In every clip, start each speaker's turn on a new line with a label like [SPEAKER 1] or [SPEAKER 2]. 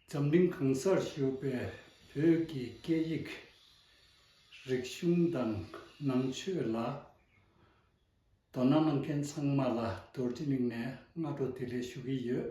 [SPEAKER 1] འཛམ་གླིང་གང་སར་བཞུགས་པའི་བོད་ཀྱི་སྐད་ཡིག་རིག་གཞུང་དང་ནང་ཆོས་ལ་དོ་སྣང་གནང་མཁན་ཚང་མ་ལ་རྡོར་དྲིལ་གླིང་ནས་སྔ་དྲོ་དེ་ལས་ཞུ་གི་ཡོད།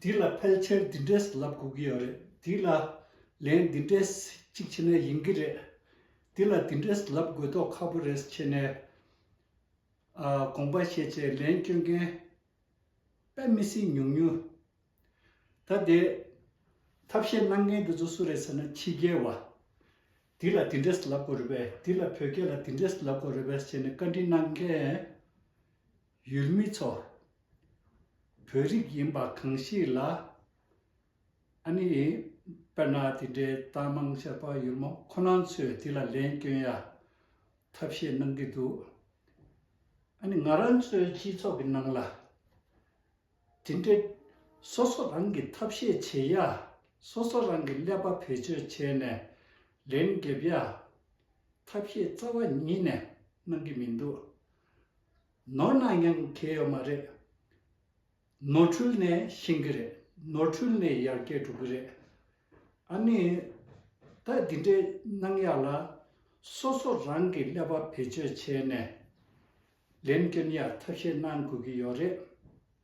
[SPEAKER 1] འདི་ལ་ཕལ་ཆེར་འདི་འདྲས་ལབ་དགོས་ཀྱི་ཡོད་རེད་འདི་ལ། ལན། འདི་འདྲས་གཅིག་བྱས་ན་ཡིན་གྱི་རེད། འདི་ལ་འདི་འདྲས་ལབ་དགོས་དོགས་ཁ་པོ་རེད་བྱས་ནས། དགོངས་པ་བཞེས་བྱས་ལན་བསྐྱོན་མཁན། དཔེ་མི་སྲིད་ཉུང་ཉུང། ད་དེ། ཐབས་ཤེས་གནང་མཁན་དེ་ཚོ་སུ་རེད་ཟེར་ན་ཕྱི་རྒྱལ་བ། འདི་ལ་འདི་འདྲས་ལབ་དགོས་རེད་པས་འདི་ལ་བོད་སྐད་ལ་འདི་འདྲས་ལབ་དགོས་རེད་པས་བྱས་ནས་བཀའ་དྲིན་གནང་མཁན། ཡུལ་མི་ཚོ་བོད་རིགས་ཡིན་པ་གང་ཞིག་ལ་ཨ་ནི་དཔེར་ན་དེ་འདྲའི་གཏམ་མང་བཤད་པ་ཡུལ་མོ་ཁོ་ན་ཚོས་དེ་ལ་ལན་སྐྱོན་ཡ་ཐབས་ཤེས་གནང་གི་འདུག་ཨ་ནི་ང་རང་ཚོའི་སྤྱི་ཚོགས་ཀྱི་ནང་ལ་དེ་འདྲའི་སོ་སོ་རང་གིས་ཐབས་ཤེས་བྱེད་ཡ་སོ་སོ་རང་གིས་ཀླད་པ་བེད་སྤྱོད་བྱས་ནས་ལན་འགེབས་ཡ་ཐབས་ཤེས་རྩ་བ་ཉིད་ནས་གནང་གི་མི་འདུག་ནོར་ནང་ཡང་གལ་ཡོད་མ་རེད། ནོར་འཁྲུལ་ནས་ཤེས་གི་རེད་ནོར་འཁྲུལ་ནས་ཡར་རྒྱས་འགྲོ་གི་རེད། ཨ་ནི། ད་འདི་འདྲའི་གནང་ཡག་ལ། སོ་སོ་རང་གི་ཀླད་པ་བེད་སྤྱོད་བྱས་ནས། ལན་བསྐྱོན་ཡག་ཐབས་ཤེས་གནང་དགོས་ཀྱི་ཡོད་རེད།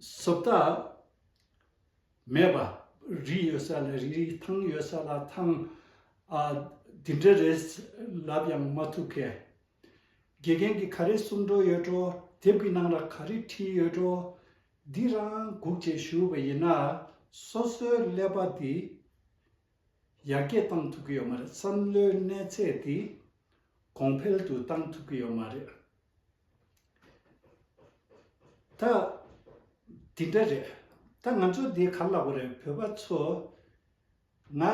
[SPEAKER 1] སོ་ད། མེད་པ། རིགས་ཡོད་ས་ལ་རིགས་རིགས་ཐང་ཡོད་ས་ལ་ཐང། ཨ། དེ་འདྲ་རེད། ལབ་ཡང་མ་ཐུབ་ཁས། དགེ་རྒན་གྱིས་ག་རེ་གསུང་འགྲོ་ཡོད་འགྲོ་དེབ་ཀྱི་ནང་ལ་ག་རེ་བྲིས་ཡོད་འགྲོ། འདི་རང་སྒུག་བྱེད་ཞུས་པ་ཡིན་ན། སོ་སོའི་ཀླད་པ་འདི། ཡར་རྒྱས་གཏང་ཐུབ་ཀྱི་ཡོད་མ་རེད་བསམ་བློའི་གནས་ཚད་དེ་གོང་འཕེལ་དུ་གཏང་ཐུབ་ཀྱི་ཡོད་མ་རེད། ད་དེ་འདྲ་རེད། ད་ང་ཚོ་འདི་ག་ལ་བ་རེད་བོད་པ་ཚོ། ང་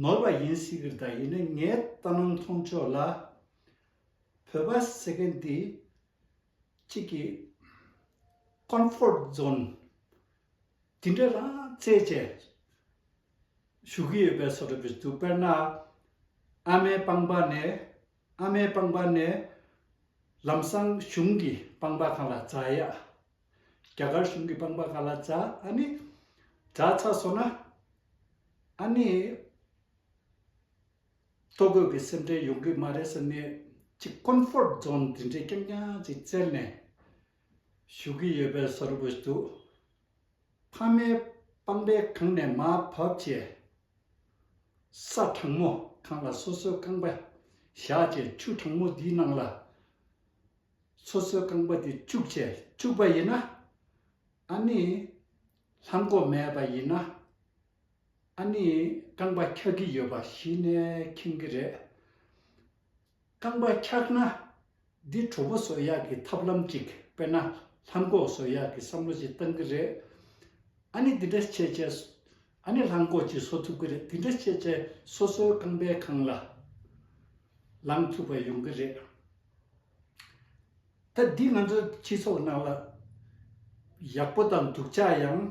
[SPEAKER 1] ནོར་བ་ཡིན་སྲིད་གི་རེད་ཡིན་ནའི་ངའི་ལྟ་སྣང་མཐོང་ཕྱོགས་ལ། བོད་པ་ཟེར་མཁན་འདི་གཅིག་གིས། Comfort Zone། དེ་འདྲ་རང་བཙན་བཅས་ཞུ་གི་ཡོད་པའི་སོགས་བྲིས་འདུག་དཔེར་ན། ཨ་མའི་སྤངས་པ་ནས་ཨ་མའི་སྤངས་པ་ནས། ལམ་སང་གཞུང་གི་སྤངས་པ་གང་ལ་རྫ་ཡ། རྒྱ་གར་གཞུང་གི་སྤངས་པ་གང་ལ་རྫ་ཨ་ནི། རྫ་ཚ་སོང་ན་ཨ་ནི། ལྟོ་གོས་ཀྱི་སེམས་ཁྲལ་ཡོང་གི་མ་རེད་ཟེར་ནས་ཅིག Comfort Zone དེ་འདྲའི་སྐྱོན་རྐྱང་ཅིག་བཙལ་ནས་ཞུ་གི་ཡོད་པའི་ཟེར་དགོས་འདུག་ཕ་མའི་པང་པའི་གང་ནས་མ་བབས་ཀྱི་ས་དྲང་མོ་གང་ལ་སོ་སོའི་རྐང་པ་བཞག་ཀྱི་ཆུ་དྲང་མོ་དེའི་ནང་ལ་སོ་སོའི་རྐང་པ་དེ་བཅུག་ཅིག་བཅུག་པ་ཡིན་ན་ཨ་ནི་ལྷམ་གོག་མེད་པ་ཡིན་ན། ཨ་ནི་རྐང་པ་འཁྱག་གི་ཡོད་པ་གཞི་ནས་མཁྱེན་གི་རེད། རྐང་པ་འཁྱག་ན་འདི་གྲོགས་པོ་བཟོ་ཡག་གི་ཐབས་ལམ་ཅིག་དཔེར་ན་ལྷམ་གོག་བཟོ་ཡག་གི་བསམ་བློ་ཅིག་བཏང་གི་རེད། ཨ་ནི་འདི་འདྲ་བྱས་བྱས་བཟོ་ཨ་ནི་ལྷམ་གོག་ཅིག་བཟོ་ཐུབ་གི་རེད་འདི་འདྲ་བྱས་བྱས་སོ་སོའི་རྐང་པའི་ཁང་ལ་ལངས་ཐུབ་པ་ཡོང་གི་རེད། ད་འདི་ང་ཚོ་སྤྱི་ཚོགས་ནང་ལ་ཡག་པོ་དང་འདུག་ཆ་ཡང་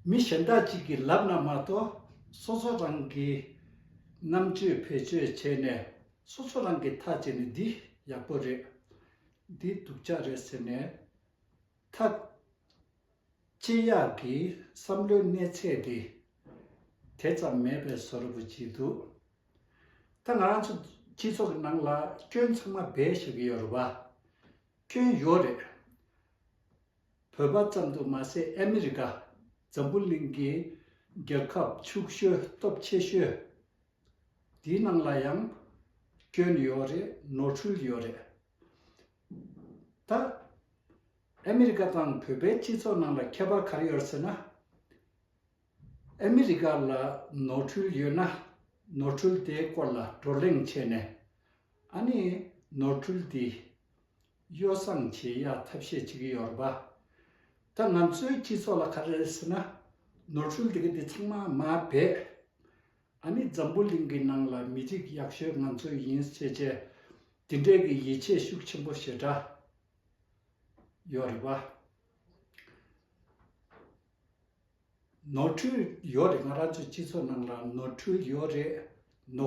[SPEAKER 1] མི་གཞན་དག་ཅིག་གི་ལབ་ན་མ་གཏོགས་སོ་སོ་རང་གི་རྣམ་དཔྱོད་བེད་སྤྱོད་བྱས་ནས་སོ་སོ་རང་གི་མཐའ་བྱས་ནས་འདི་ཡག་པོ་རེད་འདི་སྡུག་ཆ་རེད་ཟེར་ནས་མཐའ་དཔྱད་ཡག་གི་བསམ་བློའི་གནས་ཚད་དེ་དེ་ཙམ་མེད་པའི་བཟོ་རུ་བགྱིད་འདུག། ད་ང་རང་ཚོ་སྤྱི་ཚོགས་ཀྱི་ནང་ལ་སྐྱོན་ཚང་མ་སྦས་ཤོར་གྱི་ཡོད་རེད་བ། སྐྱོན་ཡོད་རེད། བོད་པ་ཙམ་དུ་མ་ཟད་ཨ་མི་རི་ཀ་འཛམ་བུ་གླིང་གི་རྒྱལ་ཁབ་ཕྱུག་ཤོས་སྟོབས་ཆེ་ཤོས་དེའི་ནང་ལ་ཡང་སྐྱོན་ཡོད་རེད་ནོར་འཁྲུལ་ཡོད་རེད། ད་ཨ་མི་རི་ཀ་དང་བོད་པའི་སྤྱི་ཚོགས་ནང་ལ་ཁྱད་པར་ག་རེ་ཡོད་རེད་ཟེར་ན། ཨ་མི་རི་ཀ་ལ་ནོར་འཁྲུལ་ཡོད་ན་ནོར་འཁྲུལ་དེའི་སྐོར་ལ་བགྲོ་གླེང་བྱས་ནས། ཨ་ནི་ནོར་འཁྲུལ་འདི་གཡོ་བསྲང་བྱེད་ཡག་ཐབས་ཤེས་བྱེད་ཀྱི་ཡོད་རེད་པ། ད་ང་ཚོའི་སྤྱི་ཚོགས་ལ་ག་རེ་རེད་ཟེར་ན། ནོར་འཁྲུལ་འདི་ག་འདི་ཚང་མ་མ་བེད། ཨ་ནི་འཛམ་བུ་གླིང་གི་ནང་ལ་མི་རིགས་ཡག་ཤོས་ང་ཚོ་ཡིན་བྱས་བྱས། འདི་འདྲས་ཀྱི་ཡིད་ཆེས་ཤུགས་ཆེན་པོ་ཞེ་དྲག་ཡོད་རེད་པ། ནོར་འཁྲུལ་ཡོད་རེད་ང་རང་ཚོའི་སྤྱི་ཚོགས་ནང་ལ་ནོར་འཁྲུལ་ཡོད་རེད།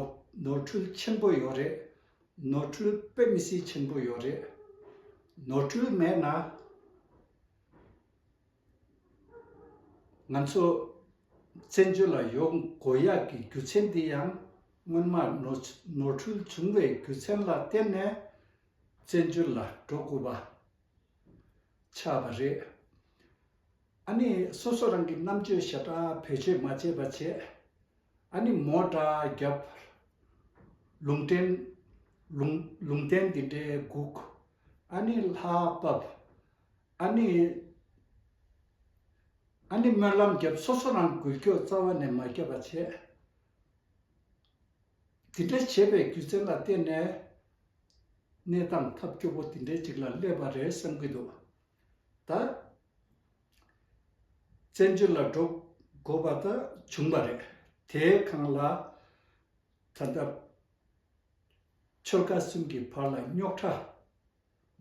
[SPEAKER 1] ནོར་འཁྲུལ་ཆེན་པོ་ཡོད་རེད། ནོར་འཁྲུལ་དཔེ་མི་སྲིད་ཆེན་པོ་ཡོད་རེད། ནོར་འཁྲུལ་མེད་ན། ང་ཚོ་བཙན་བྱོལ་ལ་ཡོང་དགོས་ཡག་གི་རྒྱུ་མཚན་འདི་ཡང་སྔོན་མ་ནོར་འཁྲུལ་བྱུང་བའི་རྒྱུ་མཚན་ལ་བརྟེན་ནས་བཙན་བྱོལ་ལ་འགྲོ་དགོས་པ་ཆགས་པ་རེད། ཨ་ནི་སོ་སོ་རང་གི་རྣམ་དཔྱོད་ཞེ་དྲག་བེད་སྤྱོད་མ་བྱས་པ་བྱས། ཨ་ནི་མོ་དགྲ་བརྒྱབ། ལུང་བསྟན། ལུང་ལུང་བསྟན་འདི་འདྲའི་སྒུག། ཨ་ནི་ལྷ་བབ། ཨ་ནི། ཨ་ནི་སྨོན་ལམ་བརྒྱབ་སོ་སོ་རང་འགུལ་སྐྱོད་རྩ་བ་ནས་མ་བརྒྱབ་པ་བྱས། འདི་འདྲ་བྱས་པའི་རྒྱུ་མཚན་ལ་བརྟེན་ནས། གནས་སྟངས་ཐབས་སྐྱོ་པོ་འདི་འདྲའི་ཅིག་ལ་སླེབས་པ་རེད་བསམ་གྱི་འདུག་ད། བཙན་བྱོལ་ལ་འགྲོ་དགོས་པ་དག་བྱུང་བ་རེད། དེའི་གང་ལ་ད་ལྟ་ཆོལ་ཁ་གསུམ་གྱི་བར་ལ་རྙོག་ཁྲ་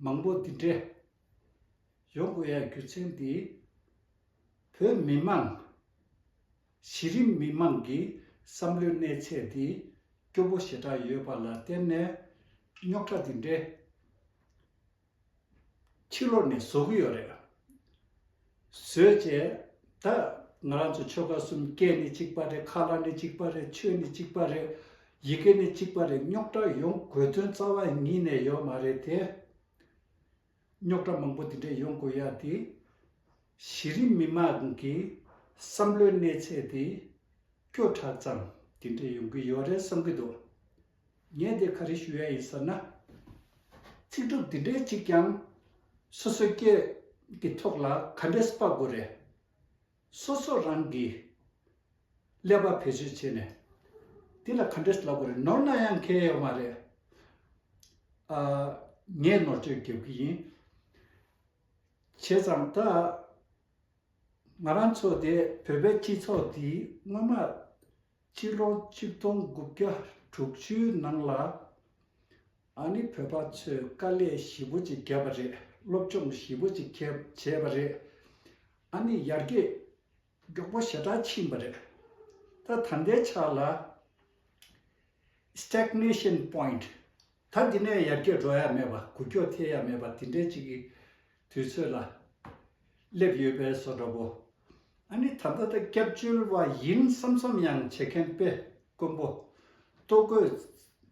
[SPEAKER 1] མང་པོ་འདི་འདྲས་ཡོང་དགོས་ཡ་རྒྱུ་མཚན་འདི་བོད་མི་དམངས་གཞི་རིམ་མི་དམངས་ཀྱི་བསམ་བློའི་གནས་ཚད་འདི་སྐྱོ་པོ་ཞེ་དྲག་ཡོད་པ་ལ་བརྟེན་ནས་རྙོག་ཁྲ་འདི་འདྲས་ཕྱི་ལོགས་ནས་བཟོ་གི་ཡོད་རེད། བཟོས་རྗེས། ད་ང་རང་ཚོ་ཆོལ་ཁ་གསུམ་སྐད་ནི་གཅིག་པ་རེད་ཁ་ལག་ནི་གཅིག་པ་རེད་ཆོས་ནི་གཅིག་པ་རེད། ཡི་གེ་ནི་གཅིག་པ་རེད་རྙོག་དྲ་ཡོང་དགོས་དོན་རྩ་བ་ཉིད་ནས་ཡོད་མ་རེད་དེ། རྙོག་དྲ་མང་པོ་འདི་འདྲ་ཡོང་དགོས་ཡ་དེ། གཞི་རིམ་མི་དམངས་ཀྱི་བསམ་བློའི་གནས་ཚད་དེ། སྐྱོ་དྲགས་ཙམ་དེ་འདྲ་ཡོང་གི་ཡོད་རེད་བསམ་གི་འདུག་ངས་འདིར་ག་རེ་ཞུ་ཡ་ཡིན་ཟེར་ན། ཚིག་གྲུབ་འདི་འདྲའི་ཅིག་ཀྱང་སོ་སོའི་སྐད་ཀྱི་ཐོག་ལ་ག་འདྲས་དཔག་དགོས་རེད། སོ་སོ་རང་གིས་ཀླད་པ་བེད་སྤྱོད་བྱས་ནས་འདི་ལ་ག་འདྲས་ལབ་དགོས་རེད་ནོར་ན་ཡང་གལ་ཡོད་མ་རེད། ཨ། ངས་ནོར་བཅོས་རྒྱབ་གི་ཡིན། བྱས་ཙང་ད། ང་རང་ཚོ་དེ་བོད་པའི་སྤྱི་ཚོགས་འདིའི་སྔོན་མ། ཕྱི་ལོ་ཆིག་སྟོང་དགུ་བརྒྱ་དྲུག་བཅུའི་ནང་ལ། ཨ་ནི་བོད་པ་ཚོས་དཀའ་ལས་ཞི་བོ་ཅིག་བརྒྱབ་པ་རེད་སློབ་སྦྱོང་ཞི་བོ་ཅིག་ཁྱབ་བྱས་པ་རེད། ཨ་ནི་ཡར་རྒྱས་མགྱོགས་པོ་ཞེ་དྲག་ཕྱིན་པ་རེད། ད་ད་ལྟའི་ཆ་ལ། Stagnation Point། ད་འདི་ནས་ཡར་རྒྱས་འགྲོ་ཡ་མེད་པ་གུ་ཁྱོད་ཐེ་ཡ་མེད་པ་དེ་འདྲའི་ཅིག་གི་དུས་ཚོད་ལ་སླེབས་ཡོད་པའི་བཟོ་འདྲ་བོ། ཨ་ནི་ད་ལྟ་ད་སྐྱབས་བཅོལ་བ་ཡིན་བསམ་བསམ་ཡང་བྱེད་མཁན་དཔེ་དཀོན་པོ། ལྟོ་གོས་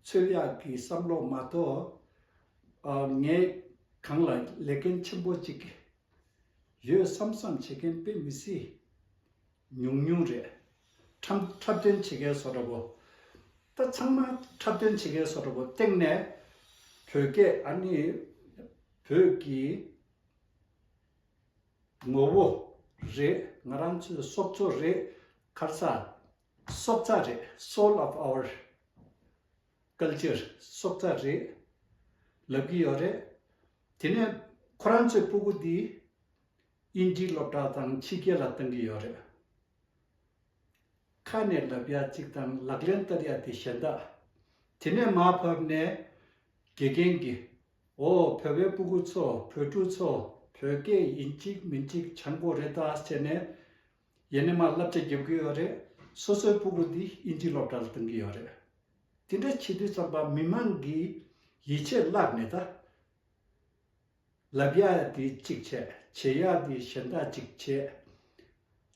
[SPEAKER 1] ཚོད་ཡག་གི་བསམ་བློ་མ་གཏོགས་ངས་གང་ལ་ལས་འགན་ཆེན་པོ་གཅིག་ཡོད་བསམ་བསམ་བྱེད་མཁན་དཔེ་མི་སྲིད། ཉུང་ཉུང་རེད། འཁྲབ་འཁྲབ་སྟོན་བྱེད་མཁན་སོ་འདྲ་པོ། ད་ཚང་མ་འཁྲབ་སྟོན་བྱེད་མཁན་སོ་འདྲ་པོ་སྟེང་ནས་བོད་སྐད་ཨ་ནི་བོད་ཀྱི་ངོ་བོ་རེད་ང་རང་ཚོའི་སྲོག་རྩོལ་རེད་ཁར་ས་སྲོག་རྩ་རེད Soul of our Culture སྲོག་རྩ་རེད་ལབ་ཀྱི་ཡོད་རེད་དེ་ནས་ཁོ་རང་ཚོའི་སྤུ་གུ་འདི་ཨིན་ཇིའི་སློབ་གྲྭ་དང་ཕྱི་རྒྱལ་ལ་གཏོང་གི་ཡོད་རེད། ཁ་ནས་ལབ་ཡ་གཅིག་དང་ལག་ལེན་བསྟར་ཡ་དེ་གཞན་དག། དེ་ནས་མར་ཕབ་ནས། དགེ་རྒན་གྱིས། འོ་བོད་པའི་སྤུ་གུ་ཚོ་བོད་ཕྲུག་ཚོ་བོད་སྐད་ཡིན་གཅིག་མིན་གཅིག་བྱང་གོ་རེ་ད་ཟེར་ནས། ཡེ་ནས་མར་བསླབ་བྱ་རྒྱབ་ཀྱི་ཡོད་རེད། སོ་སོའི་སྤུ་གུ་འདི་ཨིན་ཇིའི་སློབ་གྲྭ་ལ་གཏོང་གི་ཡོད་རེད། དེ་འདྲ་བྱེད་དུས་ཚང་པ་མི་མང་གིས་ཡིད་ཆེས་བརླག་ནས་ད། ལབ་ཡག་དེ་གཅིག་བྱས། བྱེད་ཡག་དེ་གཞན་དག་གཅིག་བྱས།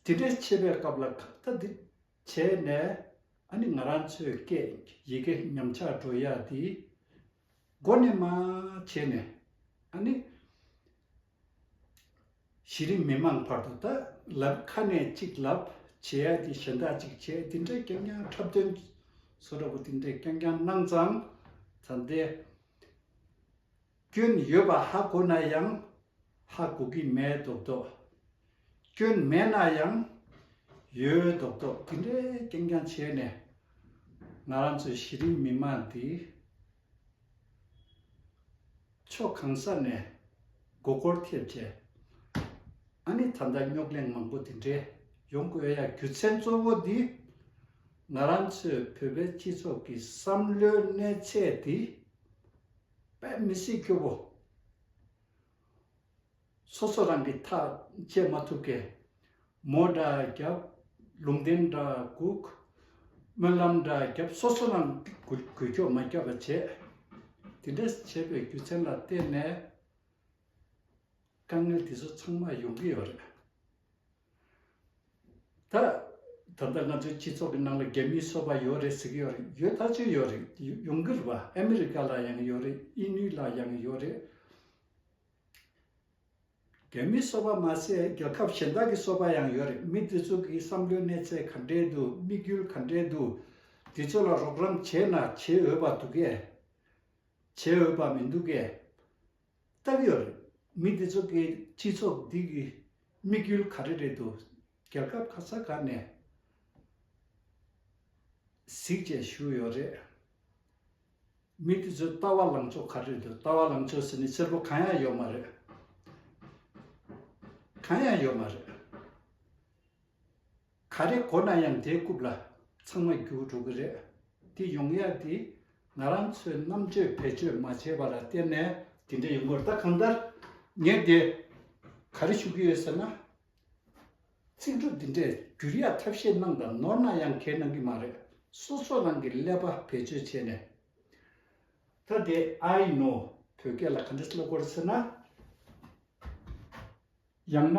[SPEAKER 1] དེ་འདྲའི་བྱེད་པའི་སྐབས་ལ་ཁ་བརྡ་དེ་བྱས་ནས་ཨ་ནི་ང་རང་ཚོའི་སྐད་ཡི་གེ་ཉམས་ཆག་འགྲོ་ཡག་དེའི་སྒོ་ནས་མ་བྱས་ནས་ཨ་ནི་གཞི་རིམ་མི་མང་བར་དུ་ད་ལབ་ཁ་ནས་གཅིག་ལབ་བྱེད་ཡག་དེ་གཞན་དག་གཅིག་བྱས་དེ་འདྲའི་རྐྱང་རྐྱང་འཁྲབ་སྟོན་སོ་འདྲ་པོ་དེ་འདྲའི་རྐྱང་རྐྱང་གནང་ཙང་ཙང་དེ། སྐྱོན་ཡོད་པ་ཧ་གོ་ན་ཡང་ཧ་གོ་གི་མེད་མདོག་མདོག། སྐྱོན་མེད་ན་ཡང་ཡོད་མདོག་མདོག་དེ་འདྲའི་ཀྱང་ཀྱང་བྱས་ནས་ང་རང་ཚོ་གཞི་རིམ་མི་མང་འདི་ཕྱོགས་གང་ས་ནས་མགོ་སྐོར་ཐེབས་རྗེས་ཨ་ནི་ད་ལྟ་རྙོག་གླེང་མང་པོ་དེ་འདྲའི་ཡོང་དགོས་ཡ་རྒྱུ་མཚན་གཙོ་བོ་འདི་ང་རང་ཚོའི་བོད་པའི་སྤྱི་ཚོགས་ཀྱི་བསམ་བློའི་གནས་ཚད་འདི་པས་མི་སྲིད་ཁྱོད་བོ། སོ་སོ་རང་གི་ཐག་བཅད་མ་ཐུབ་ཀས། མོ་འདྲ་རྒྱབ། ལུང་བསྟན་འདྲ་བསྒུག། སྨོན་ལམ་འདྲ་བརྒྱབ་སོ་སོ་རང་གིས་གུས་ཁྱོག་མ་བརྒྱབ་པ་བྱས། དེ་འདྲ་བྱས་པའི་རྒྱུ་མཚན་ལ་བརྟེན་ནས། དཀའ་ངལ་དེ་ཚོ་ཚང་མ་ཡོང་གི་ཡོད་རེད། ད། ད་ལྟ་ང་ཚོའི་སྤྱི་ཚོགས་ཀྱི་ནང་ལ་རྒྱ་མིའི་སོ་པ་ཡོད་རེད་ཟེར་གྱི་ཡོད་རེད་ཡོད་ཐག་ཆོད་ཡོད་རེད་ཡུང་གུར་བ་ཨ་མི་རི་ཀ་ལ་ཡང་ཡོད་རེད་དབྱིན་ཡུལ་ལ་ཡང་ཡོད་རེད། རྒྱ་མིའི་སོ་པ་མ་ཟད་རྒྱལ་ཁབ་གཞན་དག་གི་སོ་པ་ཡང་ཡོད་རེད་མི་དེ་ཚོ་གི་བསམ་བློའི་གནས་ཚད་ག་འདྲའི་འདུག་དམིགས་ཡུལ་ག་འདྲའི་འདུག་དེ་ཚོ་ལ་རོགས་རམ་བྱས་ན་བྱེད་འོས་པ་འདུག་གས། བྱེད་འོས་པ་མི་འདུག་གས། སྟབས་ཡོད་རེད། མི་འདི་ཚོ་གིས་སྤྱི་ཚོགས་འདི་གི་དམིགས་ཡུལ་ག་རེ་རེད་འདུག་རྒྱལ་ཁབ་ག་ས་ག་ནས་གཟིགས་བྱས་ཞུས་ཡོད་རེད། མི་འདི་ཚོའི་ལྟ་བ་ལངས་ཕྱོགས་ག་རེ་རེད་འདུག་ལྟ་བ་ལངས་ཕྱོགས་ཟེར་ནི་གསེར་པོ་གང་ཡང་ཡོད་མ་རེད། གང་ཡང་ཡོད་མ་རེད། ག་རེ་གོ་ན་ཡང་དེ་རྐུབ་ལ་ཚང་མ་རྒྱུགས་འགྲོ་གི་རེད། དེ་ཡོང་ཡ་དེ་ང་རང་ཚོའི་རྣམ་དཔྱོད་བེད་སྤྱོད་མ་བྱས་པ་ལ་བརྟེན་ནས། དེ་འདྲ་ཡོང་གི་རེད་ད་གང་ལྟར་ངས་དེ་ག་རེ་ཞུ་གི་ཡོད་ཟེར་ན། ཚིག་འབྲུ་འདི་འདྲས་བསྒྱུར་ཡ་ཐབས་ཤེས་གནང་དང་ནོར་ན་ཡང་གལ་གནང་གི་མ་རེད། སོ་སོ་རང་གི་ཀླད་པ་བེད་སྤྱོད་བྱས་ནས། ད་དེ I know བོད་སྐད་ལ་ག་འདྲ་སློབ་དགོས་རེད་ཟེར་ན། ཡང་ན།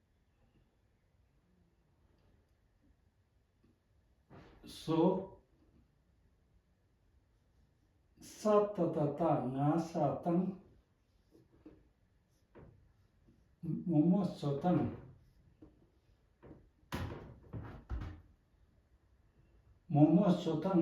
[SPEAKER 1] སོ། ས་ཏྭ་ཏཱ་རྟ་རྔ་ས་དང། མོ་མོ་སོ་དང། མོ་མོ་སོ་དང།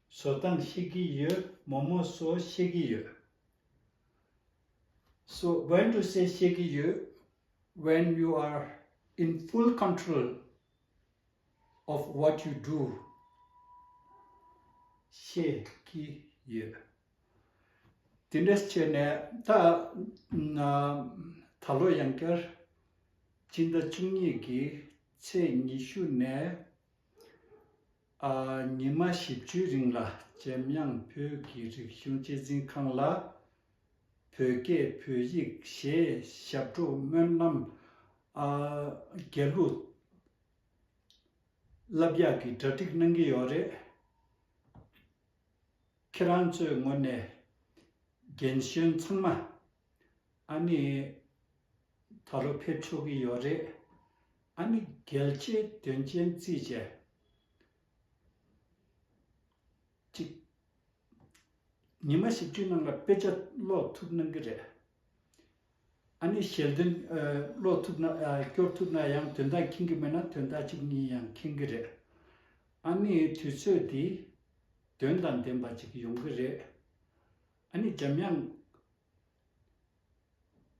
[SPEAKER 1] བཟོ་སྟངས་ཤེས་ཀྱི་ཡོད་མོ་མོ་བཟོ་ཤེས་ཀྱི་ཡོད། བཟོ་བོན་དུ་སེལ་ཤེས་ཀྱི་ཡོད When you are in full control of what you do ཤེས་ཀྱི་ཡོད། དེ་འདྲ་བྱས་ནས་ད་ད་ལོ་ཡང་བསྐྱར་སྤྱི་ཟླ་བཅུ་གཉིས་ཀྱི་ཚེས་ཉི་ཤུ་ནས་ཉི་མ་བཞི་བཅུའི་རིང་ལ་ཇེམ་དབྱང་བོད་ཀྱི་རིག་གཞུང་གཅེས་འཛིན་ཁང་ལ། བོད་སྐད་བོད་ཡིག་ཞེས་ཞབས་བྲོ་སྨོན་རྣམ། རྒྱལ་གླུ། རླབས་གཡག་གི་གྲ་སྒྲིག་གནང་གི་ཡོད་རེད། ཁྱེད་རང་ཚོའི་ངོས་ནས་རྒན་གཞོན་ཚང་མ་ཨ་ནི་ད་ལོ་ཕེབས་ཆོག་གི་ཡོད་རེད། ཨ་ནི་རྒྱལ་ཆེ་དོན་ཆེན་རྩིས་བྱས། གཅིག། ཉི་མ་བཞི་བཅུའི་ནང་ལ་དཔེ་ཆ་ཀློག་ཐུབ་གནང་གི་རེད། ཨ་ནི་ཞལ་འདོན་ཀློག་ཐུབ་ན་སྐྱོར་ཐུབ་ན་ཡང་དོན་དག་མཁྱེན་གི་མེད་ན་དོན་དག་གཅིག་གཉིས་ཡང་མཁྱེན་གི་རེད། ཨ་ནི་དུས་ཚོད་འདི་དོན་དང་ལྡན་པ་ཅིག་ཡོང་གི་རེད། ཨ་ནི་འཇམ་དབྱངས་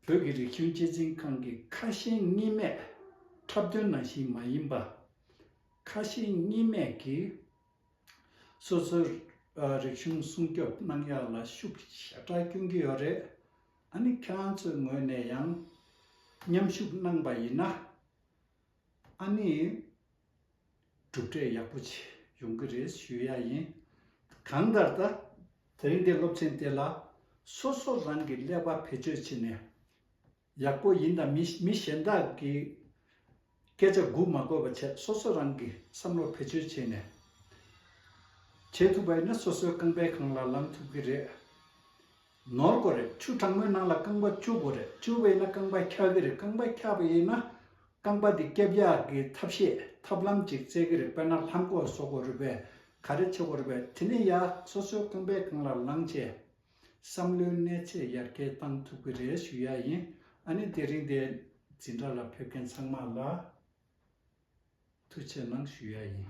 [SPEAKER 1] བོད་ཀྱི་རིག་གཞུང་སྐྱེད་སྲིང་ཁང་གི་ཁ་ཞེང་གཉིས་མེད་འཁྲབ་སྟོན་ནང་བཞིན་མ་ཡིན་པ། ཁ་ཞེང་གཉིས་མེད་ཀྱིས་སོ་སོའི་རིག་གཞུང་སྲུང་སྐྱོབ་གནང་ཡག་ལ་ཤུགས་ཞེ་དྲག་སྐྱོན་གྱི་ཡོད་རེད། ཨ་ནི་ཁྱེད་རང་ཚོའི་ངོས་ནས་ཡང་མཉམ་ཞུགས་གནང་པ་ཡིན་ན། ཨ་ནེ། གྲུབ་འབྲས་ཡག་པོ་ཆེ་ཡོང་གི་རེད་ཞུ་ཡག་ཡིན། གང་ལྟར་ད་རིང་གི་སློབ་ཆེན་དེ་ལ་སོ་སོ་རང་གི་ཀླད་པ་བེད་སྤྱོད་བྱེད་ནས་ཡག་པོ་ཡིན་དང་མི་གཞན་དག་གི་སྐད་ཆ་སྒུག་མ་དགོས་པ་བྱས་སོ་སོ་རང་གི་བསམ་བློ་བེད་སྤྱོད་བྱེད་ནས་བྱེད་ཐུབ་པ་ཡིན་ན་སོ་སོའི་རྐང་པའི་གང་ལ་ལངས་ཐུབ་གི་རེད། ནོར་དགོས་རེད་ཆུ་གྲང་མོའི་ནང་ལ་རྐང་པ་བཅུ་དགོས་རེད་བཅུ་བས་ན་རྐང་པ་འཁྱག་གི་རེད་རྐང་པ་འཁྱག་པས་ན། རྐང་པ་དེ་སྐྱེ་བཞག་གི་ཐབས་ཤེས་ཐབས་ལམ་ཅིག་བཙལ་གི་རེད་དཔེར་ན་ལྷམ་གོག་བཟོ་དགོས་རུས་པས་ག་རེ་བྱེད་དགོས་རུས་པས་དེ་ནས་ཡ་སོ་སོའི་རྐང་པའི་སྒང་ལ་ལངས་རྗེས། བསམ་བློའི་གནས་ཚད་ཡར་རྒྱས་བཏང་ཐུབ་ཀི་རེད་ཞུ་ཡ་ཡིན་ཨ་ནི་དེ་རིང་འདི་འཛིན་གྲྭ་ལ་ཕེབས་མཁན་ཚང་མ་ལ་ཐུགས་ཆེ་གནང་ཞུ་ཡ་ཡིན།